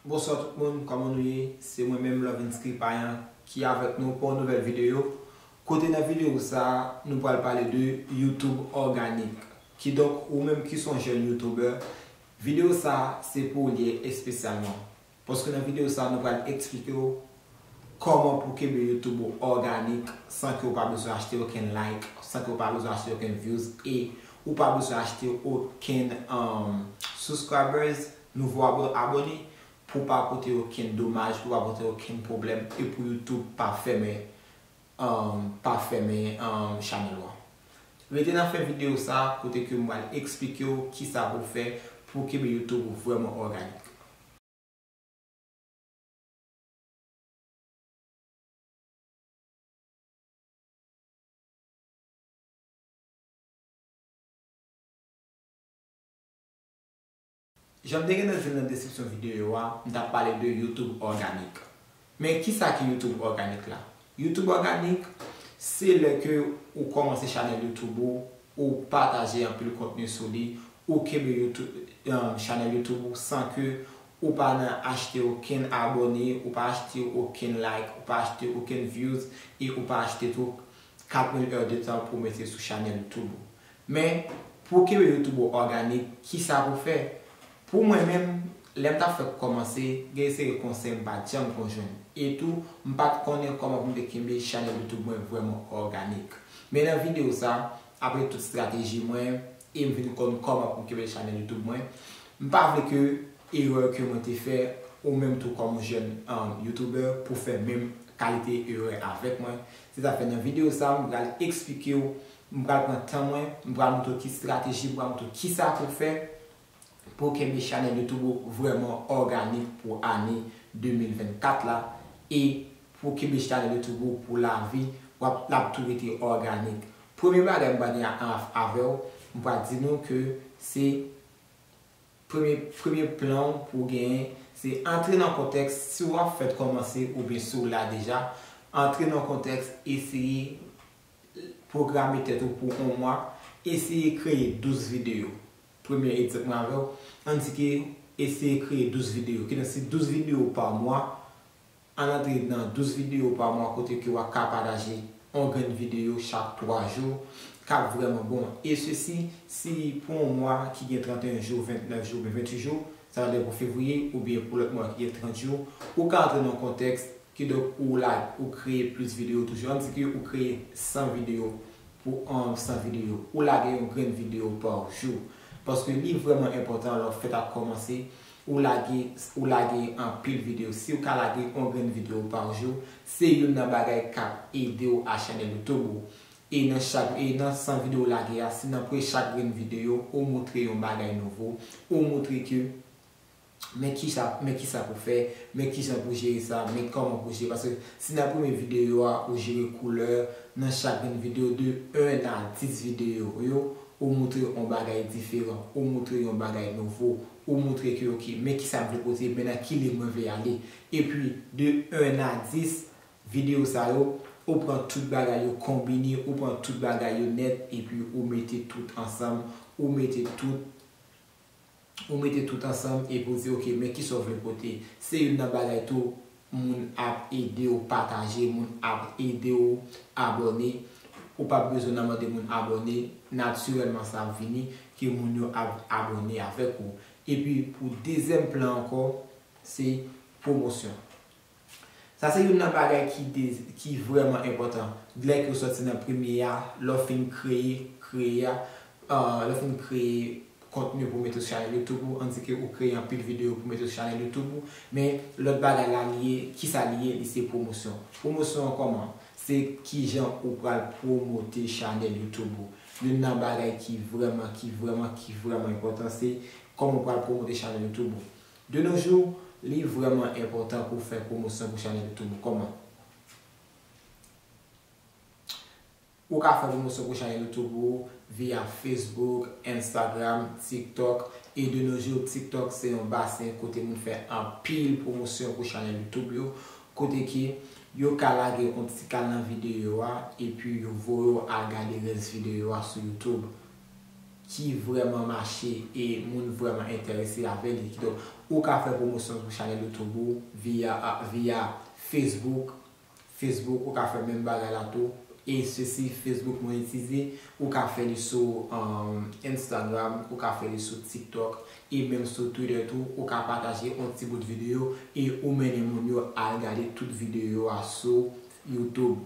Bonswa tout moun kòman nou ye se mwen menm Lovinsky Payan ki avèk nou pou yon nouvèl videyo kote nan videyo sa nou pral pale de YouTube òganik kidonk ou menm ki son jèn youtubè videyo sa se pou ou li ye espesyalman. Paske nan video sa nou pral eksplike w Kòman pou kenbe YouTube ou òganik san ke ou pa bezwen achte okenn like, san ke ou pa bezwen achte okenn views e ou pa bezwen achte okenn subscribers, nouvo abone, pou w pa pote okenn domaj, pou w pa pote okenn pwoblèm e pou YouTube pa fèmen pa fèmen channel ou an. Rete nan fen video sa kote ke m pral eksplike w kisa pou w fè pou kenbe YouTube ou vrèman òganik. Janm te gentan di l nan deskripsyon videyo a, m tap pale de YouTube Organic. Men kisa ki YouTube Organic la? YouTube Organic se lè ke ou kòmanse chanèl YouTube ou, ou pataje anpil kontni sou li, ou kenbe YouTube chanèl YouTube ou san ke ou pa nan achte okenn abòne, ou pa achte okenn like, ou pa achte okenn views e ou pa achte tou 4000 heures de temps pou mete sou chanèl YouTube ou. Men, pou w kenbe YouTube ou òganik, kisa pou w fè? Pou mwen menm, lè m t ap fèk kòmanse, gen yon seri konsèy m pa t janm ko jwenn. E tou, m pa t konnen kòman pou m te kenbe chanèl YouTube mwen vrèman òganik. Men nan videyo sa, apre tout strateji mwen, e m vin konn kòman pou m kenbe chanèl YouTube mwen, m pa vle ke erè ke mwen te fè, ou menm tou kòm yon jèn YouTuber, pou w fè menm kalite erè avèk mwen. Se sa fè nan videyo sa, m pral eksplike w M pral pran tan mwen, m pral montre w ki strateji, m pral montre w kisa pou w fè pou w kenbe chanèl YouTube ou vrèman òganik pou ane 2024 la e pou w kenbe chanèl YouTube ou pou lavi, w ap, l ap tou rete òganik. Premye bagay m pral di avè w, m pral di nou ke se premye, premye plan w pou w genyen, se antre nan kontèks, si w ap fèt kòmanse oubyen si w la deja, antre nan kontèks eseye Pwograme tèt ou pou on mwa, eseye kreye 12 videyo. Premye egzanp mwen avèw, ann di ke eseye kreye 12 videyo. Kidonk se 12 videyo pa mwa, ann antre nan 12 videyo pa mwa kote ke wap ka pataje on grenn videyo chak 3 jou, kap vrèman bon. E sesi, si pou on mwa ki gen 31 jou, 29 jou oubyen 28 jou, sa vle di pou fevriye oubyen pou lòt mwa ki gen 30 jou, ou ka antre nan kontèks Kidonk ou la ou kreye plis videyo toujou. Ann di ke ou kreye 100 videyo pou an 100 videyo. Ou lage yon grenn videyo pa jou. Paske li vrèman enpòtan lè w fèt ap kòmanse, ou lage ou lage anpil videyo. Si ou ka lage yon grenn videyo pa jou, se youn nan bagay k ap ede w a chanèl YouTube ou. E nan chak e nan 100 videyo ou lage a, si nan pre chak grenn videyo ou moutre yon bagay nouvo, ou moutre ke. men kisa men kisa pou fè, men kijan pou jere sa, men kòman pou jere paske si nan premye videyo a ou jere koulè nan chak grenn videyo de 1 a 10 videyo ou yo ou moutre yon bagay diferan, ou moutre yon bagay nouvo, ou moutre ke ok men kisa m vle pote, men nan ki liy mwen vle ale epi de 1 a 10 videyo sa yo ou pran tout bagay yo konbine, ou pran tout bagay yo nèt epi ou mete tout ansanm, ou mete tout. ou mete tout ansanm epi ou di ok men kisa ou vle pote. Se youn nan bagay tou moun ap ede ou pataje, moun ap ede ou abòne. Ou pap bezwen nan mande moun abòne, natirèlman sa ap vini ke moun yo ap abòne avèk ou. Epi pou dezyèm plan ankò se pwomosyon. Sa se youn nan bagay ki de ki vrèman enpòtan dlè ke w sòti nan premye a lè w fin kreye kreye a ahh lè w fin kreye kontni pou w mete sou chanèl youtube ou an di ke ou kreye anpil videyo pou w mete sou chanèl youtube ou men lòt bagay la li ye kisa li ye li se pwomosyon pwomosyon an kòman se kijan ou pral pwomote chanèl youtube ou youn nan bagay ki vrèman ki vrèman ki vrèman enpòtan se kòman ou pral pwomote chanèl youtube ou De nos jours, li vrèman enpòtan pou fè pwomosyon pou chanèl tou. Kòman ou ka fè pwomosyon pou chanèl YouTube ou via Facebook, Instagram, TikTok e de nos jours TikTok se yon basen kote moun fè anpil pwomosyon pou chanèl YouTube yo kote ke yo ka lage yon ti kal nan videyo a epi yo voye w al gade rès videyo a sou YouTube. ki vrèman mache e moun vrèman entèrese avè li kidonk ou ka fè pwomosyon sou chanèl youtube ou via via facebook facebook ou ka fè menm bagay la tou e se si facebook monetize ou ka fè li sou instagram ou ka fè li sou tiktok e menm sou twitter tou ou ka pataje on ti bout video e ou mennen moun yo al gade tout video a sou youtube.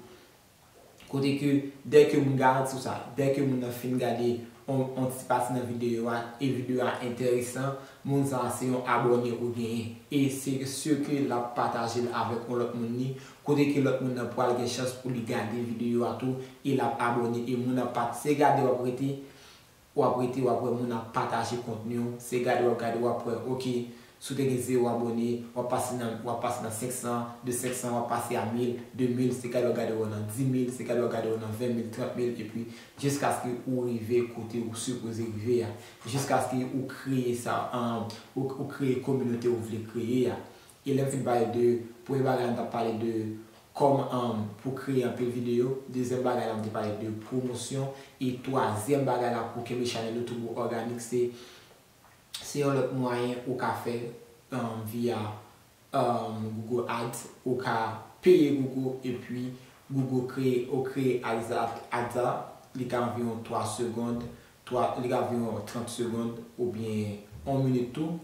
Kote ke dè ke moun garanti w sa, dè ke moun nan fin gade yon ti pati nan videyo a, e videyo a enteresan, moun sa se yon abòne ou genyen. E se sur ke l ap pataje l avèk yon lòt moun ni, kote ke lòt moun nan pral gen chans pou li gade videyo a tou, e l ap abòne, e moun ap pat se gade w ap rete, wap rete wap wè moun ap pataje kontniw se gade wap gade wap wè ok si w te gen 0 abone wap pase nan wap pase nan 500 de 500 wap pase a 1000 de 1000 se gade wap gade wè nan 10000 se gade wap gade wè nan 20000 30000 epi jiskaske ou rive kote ou sipoze rive a jiskaske ou kreye sa ou kreye kominote ou vle kreye a E lèm fin pale de premye bagay mtap pale de kòman pou kreye anpil video, dezyèm bagay la mte pale de pwomosyon e twazyèm bagay la pou kenbe chanèl ou toujou òganik se se yon lòt mwayen ou ka fè via Google Ads ou ka peye Google epi Google kreye ou kreye Ads la li ka anviwon 3 segond li ka anviwon 30 segond oubyen 1 minit tou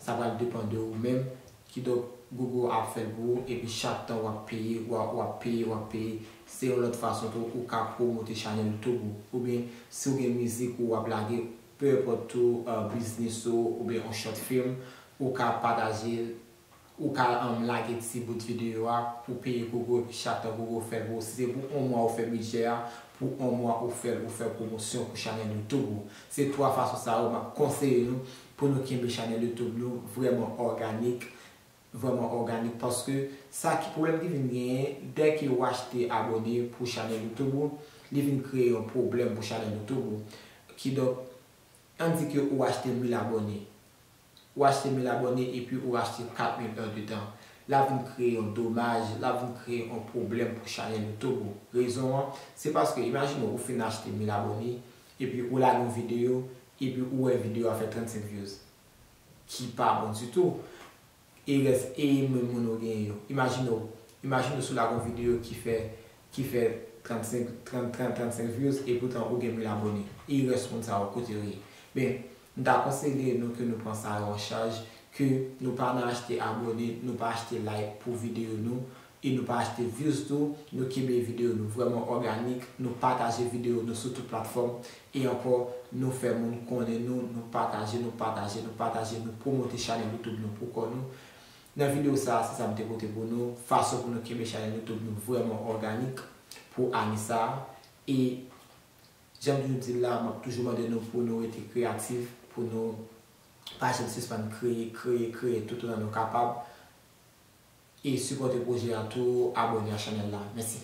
Sa pral depan de ou menm, kidonk Google ap fèl pou ou epi chak tan wap peye wap peye wap peye se yon lòt fason tou ou ka promote chanèl toub ou oubyen si ou gen mizik ou wap lage peu importe tou business ou oubyen yon short film ou ka patajel Ou ka um lage ti bout video a pou peye gogo epi chak tan gogo fèl pou ou si se pou on mwa ou fè bidjè a pou on mwa ou fèl ou fè pwomosyon pou chanèl youtube ou se 3 fason sa yo map konseye nou pou nou kenbe chanèl youtube nou vrèman òganik vrèman òganik paske sa ki pwoblèm ki vin genyen dè ke ou achte abone pou chanèl youtube ou li vin kreye yon pwoblèm pou chanèl youtube ou kidonk an di ke ou achte mil abone Ou achte 1000 abòne epi ou achte 4000 heures de temps. Lap vin kreye yon domaj, lap vin kreye yon pwoblèm pou chanèl ou tou bro. Rezon an, se paske imajine ou fin achte 1000 abòne epi ou lage yon videyo epi ou wè videyo a fè 35 views. Ki pa bon ditou. E rès e menm moun ou genyen yo. Imajine w, imajine w si w lage yon videyo ki fè, ki fè 35, 30, 30, 35 views epoutan ou gen 1000 abòne. E rès moun sa yo kote yo ye? Ben, M ta konseye nou ke nou pran sa yo an chaj, ke nou pa nan achte abone, nou pa achte like pou video nou, e nou pa achte views tou, nou kenbe video nou vrèman òganik, nou pataje video nou sou tout platfòm, e ankò nou fè moun konnen nou, nou pataje, nou pataje, nou pataje, nou pwomote chanèl YouTube nou pou kò nou. Nan video sa se sa m te pote pou nou, fason pou nou kenbe chanèl YouTube nou vrèman òganik pou ane sa, e. Janm toujou dil la map toujou mande nou pou nou rete kreyatif pou nou pa janm sispann kreye kreye kreye tout otan nou kapab e sipòte pwojè a tou abòne a chanèl la mèsi.